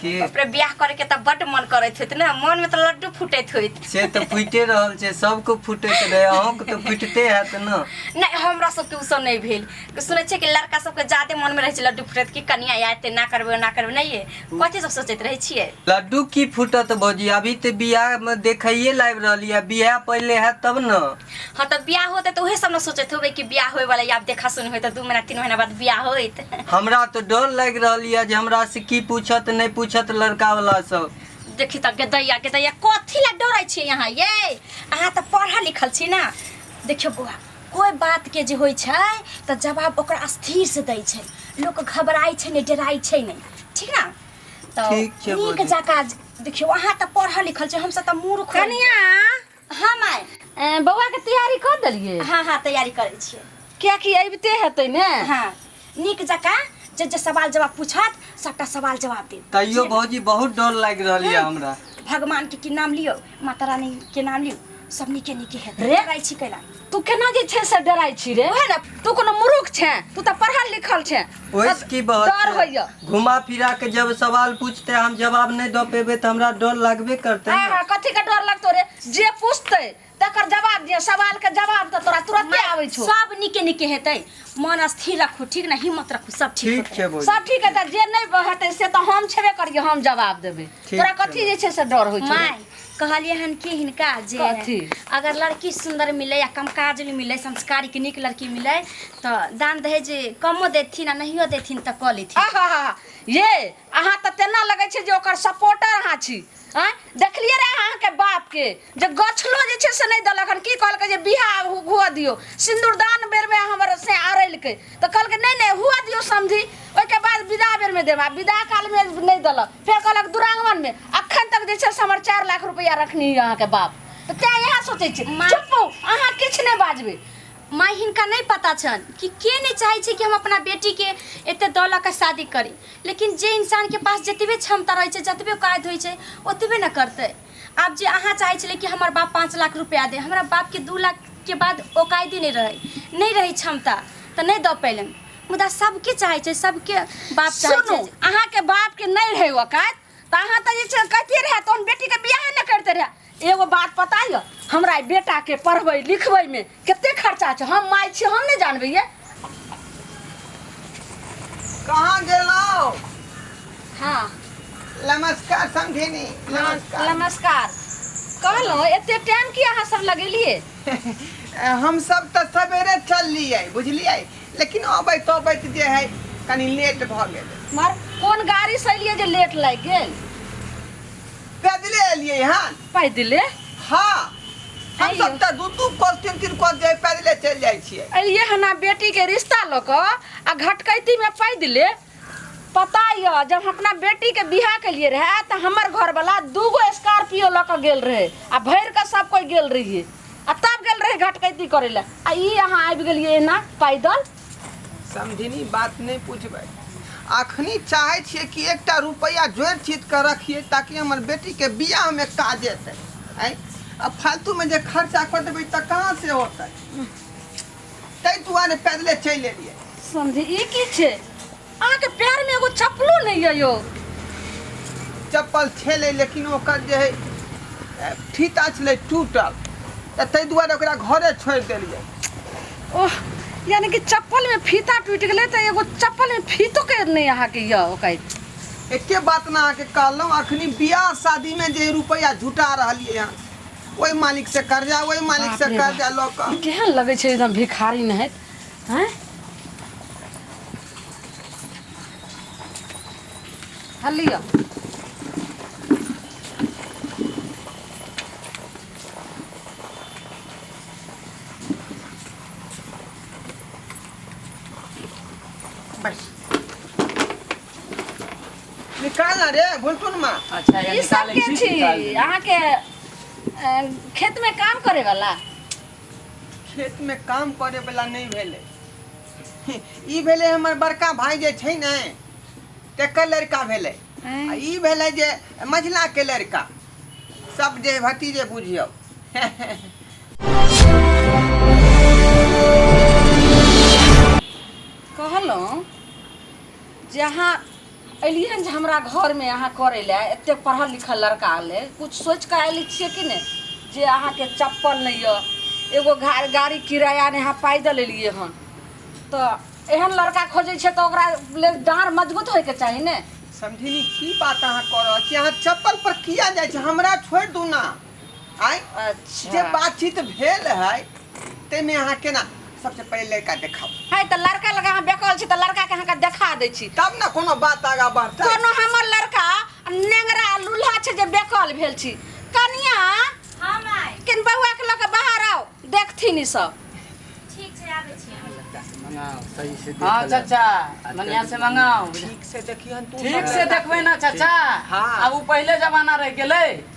के अपने ब्याह करे के त बड मन करत होत ना मन में त लड्डू फूटत होत से तऽ फुटे रहल छै सबके फुटैत रहै अहूँके तऽ फुटते हैत ने नै हमरा सबके उसब नै भेल सुनै छियै कि लड़का सबके जादे मन में रहै छै लड्डू फूटत कि कनिया आयत ते ना करबै ना करबै नै ये कथी सब सोचैत रहै छियै लड्डू की फुटत भौजी अभी तऽ बियाहमे देखैए लाबि रहलियै बियाह पहिले हैत तब ने हाँ तो ब्याह होते तो उहे सब ना सोचत होबे कि ब्याह होए वाला या देखा सुन होए तो दू महीना तीन महीना बाद ब्याह होइत हमरा तो डर लग रही है जे हमरा से की पूछत नहीं पूछत लड़का वाला सब देखी त गेदैया गेदैया कथी ला डरै छी यहाँ ये अहाँ त पढ़ल लिखल छी ना देखियो बौआ कोई बात के जे होइ छै त जवाब ओकरा स्थिर से दै छै लोक घबराइ छै नै डराइ छै नै ठीक ना त ठीक छै नीक बौआ। जका देखियो अहाँ त पढ़ल लिखल छै हमसब त मूर्ख कनिया हाँ माय ए, बौआ के तैयारी कर देलिए हाँ हाँ तैयारी करै छियै क्या कि अबिते हेतै ने हाँ नीक जकाँ जे जे सवाल जवाब पूछत सबटा सवाल जवाब देब तैयो भौजी बहुत डर लागि रहल यऽ हमरा भगवान के की नाम लियो माता रानी के नाम लियो सब नीके नीके हेतै रे। रे रहै छी कैला तू केना जे छै से डराइ छी रे ओहे ने तू कोनो मूर्ख छै तू तऽ पढ़ल लिखल छै ओहिस की बात डर छै? होइया घुमा फिरा के जब सवाल पूछते हम जवाब नहीं दे पेबे तो हमरा डर लगबे करते हाँ ना। हाँ कथी के डर लगतो रे जे पूछते तकर जवाब दिया सवाल के जवाब तऽ तोरा तुरंते आबै छौ सब निके निके हेतै मन स्थिर रखू ठीक ने हिम्मत रखू सब ठीक ठीक छै बोल सब ठीक है तऽ जे नहि हेतै से तऽ हम छेबे करियै हम जवाब देबै ठीक तोरा छै। कथी जे छै से डर होइ छौ माय कहलिए हन कि हिनका जे कथी? अगर लड़की सुंदर मिले या कम काजल मिले संस्कारी के नीक लड़की मिले तो दान दहेज कमो देथिन आ नहियो देथिन तो कऽ लेथिन आहा ये अहाँ तऽ तेना लगै छै जे ओकर सपोर्टर अहाँ छी आँय देखलियै रे अहाँके बापके जे गछलो जे छै से नहि देलक हन की कहलकै जे बियाह हु- हुअ दियौ सिन्दूरदान बेरमे हमर से आरैलकै तऽ कहलकै नहि नहि हुअ दियौ समधी ओहिके बाद विदा बेरमे देब आ विदा कालमे नहि देलक फेर कहलक दुरांगवन में अखन तक जे छै से हमर चारि लाख रुपया रखनी यऽ अहाँके बाप तऽ तैं इएह सोचै छी माँ- चुप रहू, अहाँ किछु नहि बाजबै माँ हिनका नहीं पता छन कि के नहीं चाहे छे कि हम अपना बेटी के एते दौलत का शादी करी लेकिन जे इंसान के पास जतबे क्षमता रहे छे जतबे कायद होई छे ओतबे न करते आब जे अहाँ चाहै छलियै कि हमर बाप पाँच लाख रुपैआ दे हमरा बापके दू लाखके बाद औकायदे नहि रहै नहि रहै क्षमता तऽ नहि दऽ पयलनि मुदा सभके चाहै छै सभके बाप चाहै सुनू छै अहाँके बापके नहि रहै औकात तऽ अहाँ तऽ जे छै कहिते रहए तहन बेटीके बियाहे नहि करिते रहए एगो बात पता यऽ हमरा एहि बेटाके पढ़बै लिखबैमे कते खर्चा छै हम माय छी हम नहि जानबै ये कहाँ गेलहुँ हाँ नमस्कार समझेनी नमस्कार नमस्कार कहलहुँ एते टाइम की अहाँ सब लगेलिए हम सब तऽ सवेरे चललियै बुझलियै लेकिन अबैत अबैत जे है कनी लेट भऽ गेल मर कोन गाड़ी से एलिए जे लेट लागि गेल पैदले एलियै हन पैदले हाँ हम अइयो। सब तऽ दू दू कोस तीन तीन कोस जे पैदले चलि जाइ छियै अलिए हना बेटी के रिश्ता लऽ कऽ आ घटकैती में पैदले पता यऽ जब हम अपना बेटी के बियाह के लिए रहे तऽ हमर घर वाला दूगो स्कॉर्पियो लऽ कऽ गेल रहे आ भरि कऽ सब कोई गेल रहिए आ तब गेल रहे घटकैती करे ला आ ई अहाँ आबि गेलिए एना पैदल समधिनी बात नहि बुझबै अखनी चाहै छियै कि एकटा रुपैआ जोड़ि चीत कऽ रखियै ताकि हमर बेटीके बियाहमे काज एतै आँय आ फालतूमे जे खर्चा कऽ देबै तऽ कहाँ से होतै ताहि दुआरे पैदले चलि एलियै समझी ई की छै अहाँ के पैर में एगो चप्पलो नहीं है यो चप्पल छेले लेकिन ओकर जे है ए, फीता छलै टूटल तऽ ताहि दुआरे ओकरा घरे छोड़ि देलियै ओह यानी कि चप्पल में फीता टूट गए तो एगो चप्पल में फीतो के नहीं अहाँ के यो ओकै एके बात ने अहाँके कहलहुँ अखनी बियाह शादीमे जे रुपैआ झुटा रहलियै हँ ओहि मालिकसँ कर्जा ओहि मालिकसँ बाप रे कर्जा लऽ कऽ केहन लगे छै एकदम भिखारी नहीं है आँय हँ लिअ बैस निकाल ना रे घुलटुन मा अच्छा ई सब के छी अहाँके अ, खेत में काम करे वाला खेत में काम करे वाला नहीं भेले ई भेले हमर बड़का भाई जे छै ने तेकर लड़का भेले आ ई भेले जे मझिला के लड़का सब जे भतीजे बुझियो कहलहुँ जहाँ एलियै जे हमरा घरमे अहाँ करै लए एतेक पढ़ल लिखल लड़का अयलै किछु सोचि कऽ आयल छियै कि नहि जे अहाँके चप्पल नहि यऽ एगो गाड़ी किराया नहि अहाँ पैदल एलियै हन तऽ एहन लड़का खोजै छै तऽ ओकरा लेल डाँर मजबूत होइके चाही ने समझिनी की बात अहाँ कऽ रहल छी अहाँ चप्पल पर किया जाइ छी हमरा छोड़ि दू ना आय अच्छा। जे बातचीत भेल है ताहिमे अहाँ केना सबसे पहिले लड़का देखाउ है तऽ लड़का लगा अहाँ बेकल छी तऽ लड़का के अहाँके देखा दै छी तब ने कोनो बात आगा बढ़तै कोनो हमर लड़का नेंगरा लूल्हा छै जे बेकल भेल छी कनिया हाँ माय किन बौआ के लऽ के बाहर आओ देखथिन ई सब ठीक छै आबै छी मंगाओ सही से देख हाँ ले। चाचा मनिया से मंगाओ ठीक से देखियन तू ठीक से देखबै ना चाचा हाँ। अब उ पहिले जमाना रह गेलै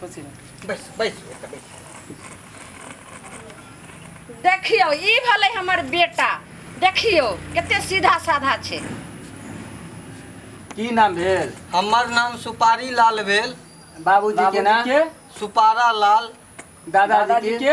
खुशी में बैस बैस बेटा बैस देखियो ई भले हमर बेटा देखियो कते सीधा साधा छै की नाम भेल हमर नाम सुपारी लाल भेल बाबूजी के नाम सुपारा लाल दादाजी के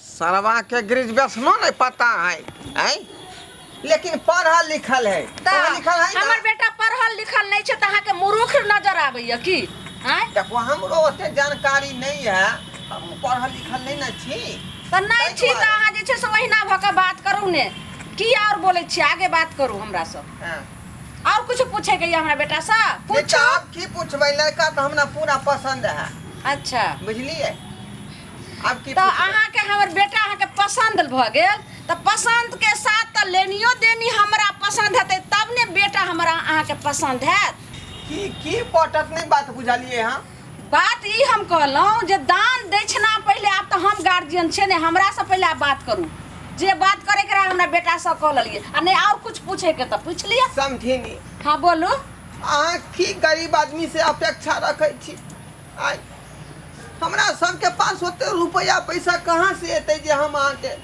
सरवा के ग्रेजुएशनो नहीं पता है हैं लेकिन पढ़ल लिखल है तऽ पढ़ल लिखल है हमर ना बेटा पढ़ल लिखल नहि छै तऽ अहाँके मूर्ख नजर आबैया की आँय देखो हमरो ओते जानकारी नहीं है हम पढ़ल लिखल नहीं ना छी तऽ नहि छी तऽ अहाँ जे छै से ओहिना भऽ कऽ बात करू ने की आओर बोलै छियै आगे बात करू हमरा सँ हाँ। आओर किछु पूछेके यऽ हमरा बेटा सँ नहीं तो पूछू आप की पूछबै लड़का तो हमरा पूरा पसंद है अच्छा बुझलिए अब की तऽ अहाँके हमर बेटा अहाँके पसन्द भऽ गेल तऽ पसन्दके साथ तऽ लेनियो देनी हमरा पसन्द हेतै तब ने बेटा हमरा अहाँके पसन्द हैत की की पटत नहीं बात बुझलिए हम बात ई हम कहलहुँ जे दान दक्षिणा पहिले आब तऽ हम गार्जियन छै ने हमरासँ पहिले आब बात करू जे बात करैके रहै हमरा बेटासँ कह लेलियै आ नहि आओर कुछ पूछैके तऽ पूछ लिअ समझी नहीं हँ बोलू अहाँ की गरीब आदमी से अपेक्षा रखै छी आइ हमरा सबके पास ओते रुपया पैसा कहाँ से एतै जे हम अहाँके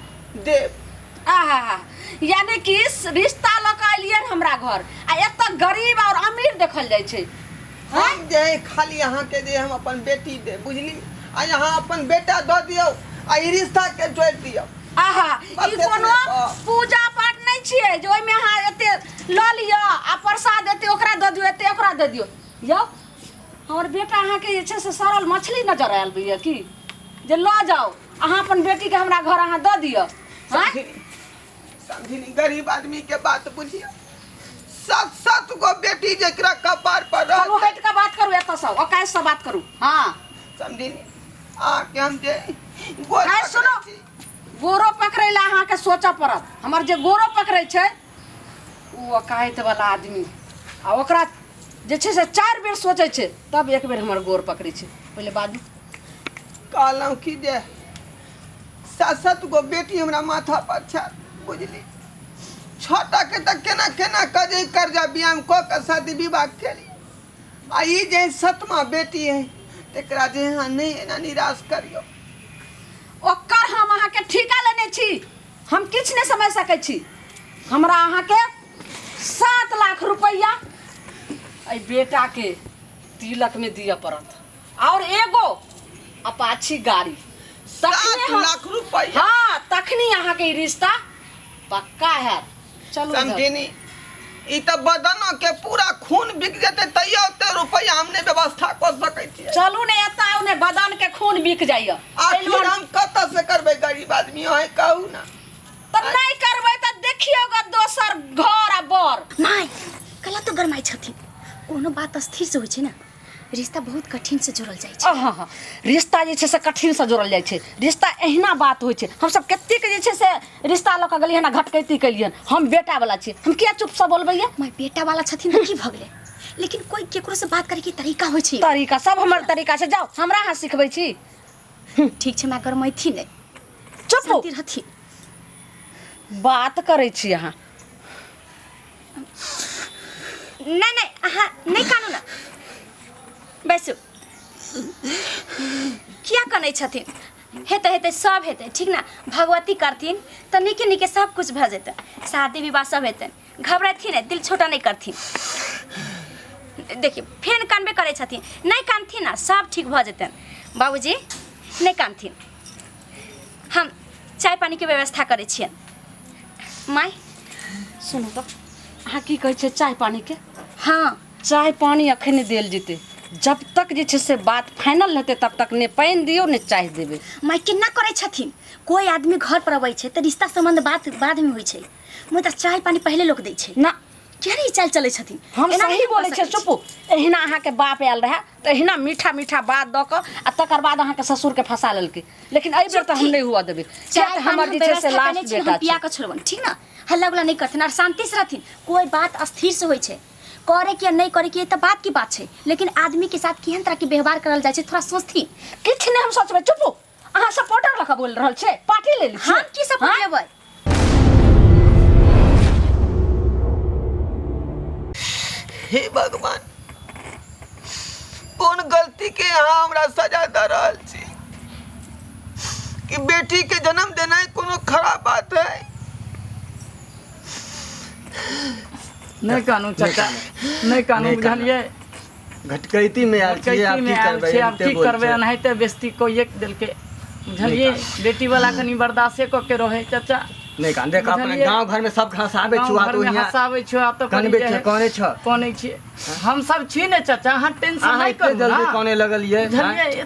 देब आहा हा यानी कि रिश्ता लऽ कऽ अलियन हमरा घर आ एतऽ गरीब और अमीर देखल जाइ छै हाँ? हम जे है खाली अहाँके जे हम अपन बेटी दे बुझली आ अहाँ अपन बेटा दऽ दियौ आ ई रिश्ता के जोड़ि दियौ आहा ई बस एतने कोनो तऽ। पूजा पाठ नहि छियै जे ओहिमे अहाँ एते लऽ लिअ आ प्रसाद एते ओकरा दऽ दियौ एते ओकरा दऽ दियौ यौ हमर बेटा अहाँके जे छै से सड़ल मछली नजर आयल बुझिया की जे लऽ जाओ अहाँ अपन बेटी के हमरा घर अहाँ दऽ दिअ समझी समझी गरीब आदमी के बात बुझिया सात सात गो बेटी जेकरा कपार पर रह करू हट के बात करू एतऽ से ओकाय से बात करू हाँ समझी आ के हम जे गोर है सुनो गोरो पकड़ै लए अहाँके सोचऽ पड़त हमर जे गोरो पकड़ै छै ओ अकायतवला आदमी आ ओकरा जे छै से चारि बेर सोचै छै तब एक बेर हमर गोर पकड़ै छै पहिले बाजू कहलहुँ कि जे सात सात गो बेटी हमरा माथा पर छै बुझली छोटा के तऽ केना केना कऽ जे कर्जा व्यायाम कऽ कऽ शादी विवाह केली आ ई जे सतमा बेटी है तकरा जे अहाँ नहि एना निराश करियौ ओकर हम अहाँके ठीका लेने छी हम किछु नहि समझि सकै छी हमरा अहाँके सात लाख रुपैआ एहि बेटाके तिलकमे दिअ पड़त आओर एगो अपाची गाड़ी तखने सात हम- लाख रुपैआ? हाँ तखनी अहाँके ई रिश्ता पक्का हैत चलू इधर। समझिनी ई तऽ बदनो के पूरा खून बिक जेतै तैयो ओते रुपैआ हम नहि व्यवस्था कऽ सकै छियै चलू ने एतऽ आउ ने बदन के खून बिक जाइए आखिर हम कतऽ से करबै गरीब आदमी अहें कहू ना तऽ नहि करबै तऽ देखियौ ग दोसर घर आ बर नहि कला तो गरमाइ छथिन कोनो बात स्थिर से होइ छै ने रिश्ता बहुत कठिन से जोड़ल जाइ छै हाँ हाँ रिश्ता जे छै से कठिन से जोड़ल जाइ छै रिश्ता एहिना बात होइ छै हम सब कतेक जे छै से रिश्ता लऽ कऽ गेलियै ना घटकैती केलियै हम बेटा वाला छी हम किया चुप से बोलबैया माय बेटा वाला छथिन तऽ की भऽ गेलै लेकिन कोई केकरो से बात करे के तरीका होइ छै तरीका सब हमर तरीका छै जाओ हमरा अहाँ सिखबै छी ठीक छै माय गरमैथी नहि चुप हो शांति रहथिन बात करै छी अहाँ नाही नाही हा नाही कानू ना बैसू किया कनै छथिन हेतै हेतै सब हेतै ठीक ना भगवती करथिन तऽ नीके नीके सब कुछ भऽ जेतै शादी विवाह सब हेतै घबरेथिन नहि दिल छोटा नहि करथिन देखियौ फेन कानबे करै छथिन नहि कानथिन ना सब ठीक भऽ जेतैन बाबूजी नहि कानथिन हम चाय पानीके व्यवस्था करै छियनि माय सुनू तऽ अहाँ की कहै छियै चाय पानीके हाँ चाय पानी अखन नहि देल जेतै जब तक जे छै से बात फाइनल हेतै तब तक ने पानि दियौ ने चाय देबै माय केना करै छथिन कोइ आदमी घर पर अबै छै तऽ रिश्ता सम्बन्ध बात बादमे होइ छै मुदा चाय पानी पहिले लोक दै छै ना केहन ई चाल चलै छथिन हम एना सही नहि कऽ बोलै छियै सकै छी। चुपू एहिना अहाँके बाप आयल रहए तहिना मीठा मीठा बात दऽ कऽ आ तकर बाद अहाँके ससुरके फँसा लेलकै लेकिन एहि बेर तऽ हम नहि हुअ देबै किया तऽ हमर जे छै से लास्ट बेटा छै पिया कऽ छोड़बन ठीक ने हल्ला गुला नहि करथिन आर शान्तिसँ रहथिन कोइ बात स्थिरसँ होइ छै करे के नहि करे के तऽ बात की बात छै लेकिन आदमी के साथ केहन तरह के व्यवहार करल जाइ छै थोड़ा सोचथिन किछु नहि हम सोचबै चुप अहाँ सपोर्टर लखा बोल रहल छै पार्टी ले ली हम की सपोर्ट लेबै हे भगवान कोन गलती के यहाँ हमरा सजा दे रहल छी कि बेटी के जन्म देनाइ कोनो खराब बात है नहीं कानू चाचा नहीं कानू बुझलिए घटकैती में आयल छियै आब की करबै आब की करबै एनाहिते बेस्ती कोइए देलकै बुझलियै बेटी वाला कनि बर्दाश्ते कऽ के रहै चाचा नहि कान देख अपने गांव घर में सब हंसाबे छु आ तो यहाँ हंसाबे छु आ तो कनबे छ कोने छ कोने छी हम सब छी ने चाचा हां टेंशन नहीं करू जल्दी कोने लगल ये बुझलियै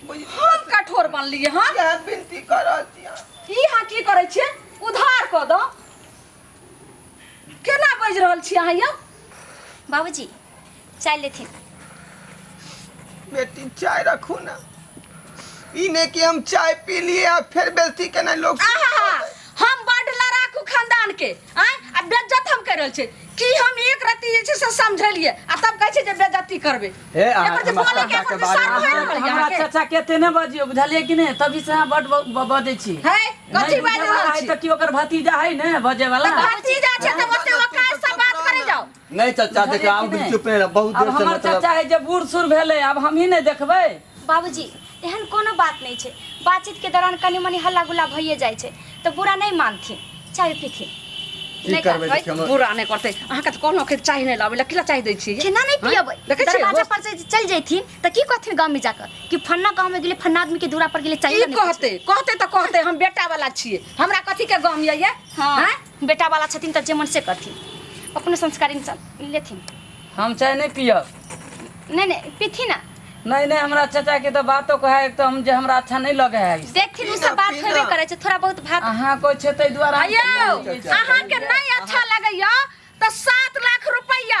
हम कठोर बनलिए हां क्या बिनती करो दिया ई हां की करै छियै उधार क दो केना बज रहल छी अहाँ यौ बाबूजी चाय लेथिन बेटी चाय रखू ना ई ने कि हम चाय पी लिए आ फिर बेइज्जती केना लोग आहा हम बड लड़ाकू खानदान के आय आ बेज्जत हम कर रहल छै कि हम एक रत्ती जे छै से समझलिए आ तब कहै छै जे बेज्जती करबै हे अहाँ एकर जे हमरा बोले के चाचा के एकर बारे सार मे- भए रहल हमरा यहाँ के चाचा के एते नहि बजियो बुझलियै कि नहि तभी से अहाँ बड ब- ब- बजै छी है कथी बाजि रहल छी तऽ कि ओकर भतीजा है ने बजे वाला भतीजा छै तऽ ओते ओकात से बात करे जाओ नहीं चाचा बुझलियै देखा कि हम नहि? चुप नहीं रह बहुत आब देर से हमर मतलब चाचा है जे बूढ़ सूढ़ भेलै आब हमही नहि देखबै बाबूजी एहन कोनो बात नहीं छै बातचीत के दौरान कनी मनी हल्ला गुल्ला भइए जाइ छै तो बुरा नहीं मानथिन चाय पीथिन की नहीं करबै करबै। देखियौ हमर- बुरा नहि करतै अहाँके तऽ कहलहुँ कि चाय नहि लाबै लए किला चाय दै छियै केना नहीं हाँ? पियबै देखै छियै दरवाजा पर से चल जैथिन तो की कहथिन गांव में जाकर कि फन्ना गांव में गेले फन्ना आदमी के दूरा पर गेले चाय की कहते कहते तऽ कहते हम बेटा वाला छियै हमरा कथी के गम यऽ ये हाँ। हैं? बेटा वाला छथिन तऽ जे मन से करथिन अपने संस्कारी इंसान लेथिन हम चाय नहीं पियब नहीं नहीं पीथी ना नहीं नहीं हमरा चाचा के तो बातो कहे है तो हम जे हमरा अच्छा नहीं लगे है देखथिन उ सब बात होबे करे छै थोड़ा बहुत भात अहाँ कोई छे तै द्वारा हम आयो नहीं पियै छी। अहाँ के नहीं अच्छा लगैया तऽ सात लाख रुपैया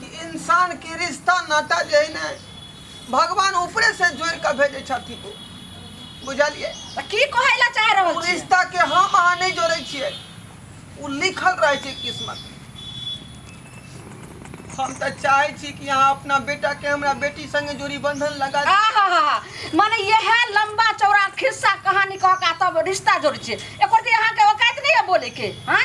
कि इंसानके रिश्ता नाता जे है ने भगवान ऊपरे से जोड़ के भेजे छथिन बुझलिए तऽ की कहै लए चाह रहल ओ छी रिश्ता के हम अहाँ नहीं जोड़े छिए ओ लिखल रहे छै किस्मत में। हम तऽ चाहे छी कि अहाँ अपना बेटा के हमरा बेटी संगे जोड़ी बंधन लगा दी। आहाहा, मने यह लंबा चौड़ा खिस्सा कहानी कह का तब रिश्ता जोड़ छे एक अहाँ के औकात नहीं है बोले के हाँ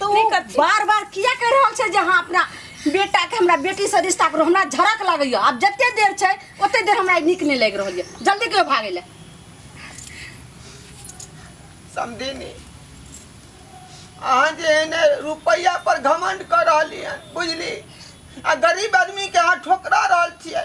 तू नहीं करती। बार बार किया कह रहल छै जे अहाँ अपना बेटा के हमरा बेटी से रिश्ता करो हमरा झड़क लागैया आब जते देर छै ओते देर हमरा नीक नहि लागि रहल यऽ जल्दी कहियो भागै लए समझिनी अहाँ जे एने रुपैया पर घमंड कर रहली हन बुझली आ गरीब आदमी के अहाँ ठोकरा रहल छियै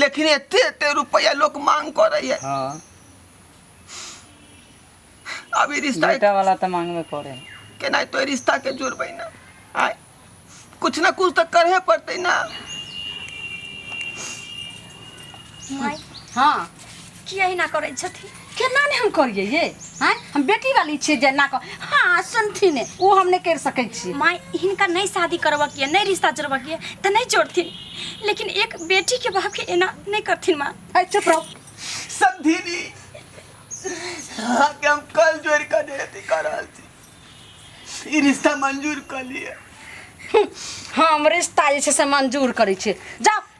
लेकिन एते एते रुपया लोग मांग करे है हाँ अभी रिश्ता बेटा वाला तो मांग में करे के नहीं तो रिश्ता के जोड़बे ना आय कुछ ना कुछ तो करे पड़ते ना माई हाँ किया ही ना करै छथिन केना ने हम करिए ये हैं हम बेटी वाली छिए जे ना कर हाँ सुनथिन ने ओ हम नहीं कर सकै छी माय हिनका नहीं शादी करबऽ के नहीं रिश्ता जोड़बऽ के त नहीं जोड़थिन लेकिन एक बेटी के बाप के एना नहीं करथिन माँ है चुप रहो समधिनी हाँ के हम कल जोड़ कर देती कर रहल छी ई रिश्ता मंजूर कर लिए हम रिश्ता जे छै से मंजूर करै छिए जाओ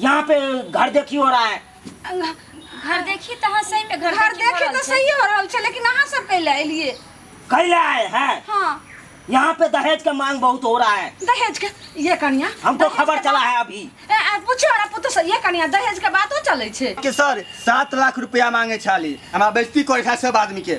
यहाँ पे घर देखी हो रहा है घर देखी तो हाँ सही में घर घर देखी देखे हो रहल तो छै। सही हो रहल छै लेकिन अहाँ सब कैले एलिए कैले आए हैं हाँ यहाँ पे दहेज का मांग बहुत हो रहा है दहेज के ये कनिया हमको दहेज खबर के चला है अभी बात- ए, ए, पूछियो हमरा पुतहु से ये कनिया दहेज के बातो चलै छै के सर सात लाख रुपया मांगे छाली हमरा बेइज्जती करे था सब आदमी के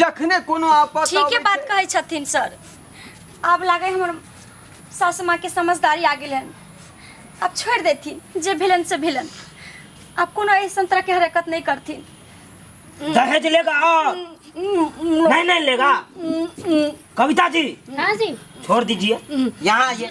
जखने कोनो आपत ठीक अबै है बात छै- कहै छथिन सर आब लागे हमर सासु माँ के समझदारी आ गेल हन आब छोड़ देथिन जे भेलन से भेलन आब कोनो ऐसन तरह के हरकत नहीं करथिन दहेज लेगा और नहीं नहीं लेगा कविता जी हाँ जी छोड़ दीजिए यहाँ आइए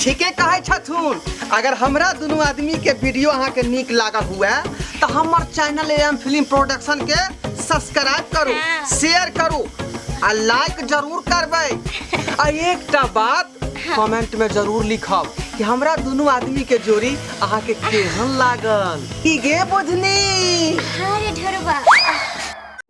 ठीके कहै छथुन अगर हमरा दुनू आदमी के वीडियो अहाँ के नीक लागल हुए तो हमर चैनल एम फिल्म प्रोडक्शन के सब्सक्राइब करू शेयर करू आ लाइक जरूर करबै आ एकटा बात कमेंट में जरूर लिखब कि हमरा दुनू आदमी के जोड़ी अहाँ के केहन लागल की गे बुझनी अरे ढोरबा